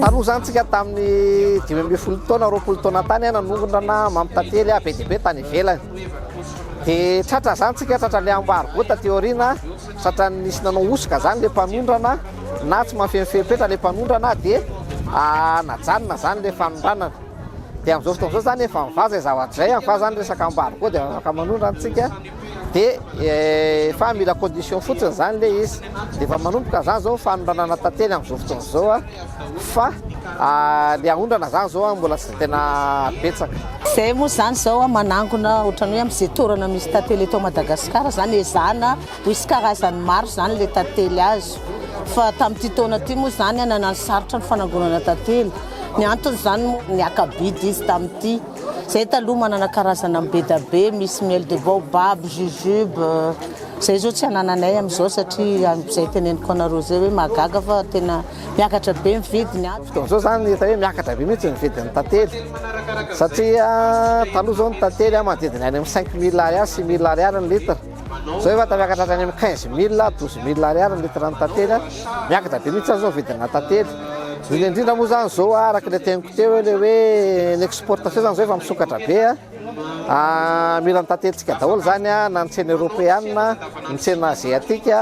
Tarozahantsika tamin'ny dimy ambin'ny folo taona, roapolo taona tany aho nanongana mampitantely be dia be tany ivelany. Dia tratra zany tsika, tratra le ambargo taty aoriana. Satria nisy nanao hosoka zany le mpanondrana na tsy mahafehy ny fepetra le mpanondrana de najanona zany le fanondranana. De amzao fotoana zao zany efa mivaza izay zavatra izay an fa zany resaka ambadika koa de afaka manondrana tsika de fa mila condition fotsiny zany le izy de efa manomboka zany zao ny fanondranana tantely amzao fotoana zao an. fa ny aondrana zany zao an mbola tsy tena betsaka. Zay moa zany zao an manangona otrany hoe am ze torana misy tantely eto Madagascar zany ezahana ho hisy karazany maro zany le tantely azo fa tamty taona ty moa zany an nanano sarotra ny fanangonana tantely ny antony zany moa ny akabidy izy tamty Zay taloha manana karazana am bedabe misy miel de baobab, jujube, zay zao tsy anananay am zao satria zay teneniko anareo zay hoe mahagaga fa tena miakatra be ny vidiny ato. Fotoana zao zany hita hoe miakatra be mihitsy ny vidiny tantely satria taloha zao ny tantely manodidina any am cinq mille ariary, six mille ariary ny litre. Zao efa tamiakatra hatrany amin'ny quinze mille, douze mille ariary ny litre ny tantely a, miakatra be mihitsy zao ny vidina tantely, indrindra indrindra moa zany zao a, araka le teniko teo hoe le hoe ny exportation zany zao efa misokatra be a, mila ny tantelintsika daholo zany a, na ny tsena europeana, ny tsena aziatique.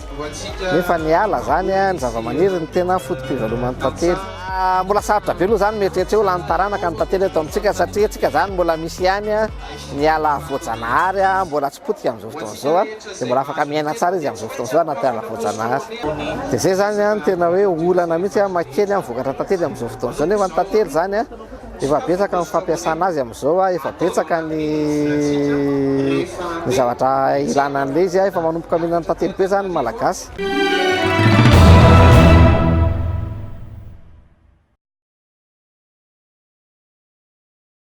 Nefa ny ala izany, ny zavamaniry no tena foto-pivaloman'ny tantely. Mbola sarotra be aloha izany mieritreritra hoe ho lany taranaka ny tantely eto amintsika satria antsika izany mbola misy ihany ny ala voajanahary mbola tsy potika amin'izao fotoana izao dia mbola afaka miaina tsara izy amin'izao fotoana izao anaty ala voajanahary. Dia izay izany no tena hoe olana mihitsy hamaky kely ny vokatra tantely amin'izao fotoana izao nefa ny tantely izany Efa betsaka ny fampiasana azy amin'izao, efa betsaka ny ny zavatra ilana an'ilay izy, efa manomboka mihinana tantely be izany ny Malagasy.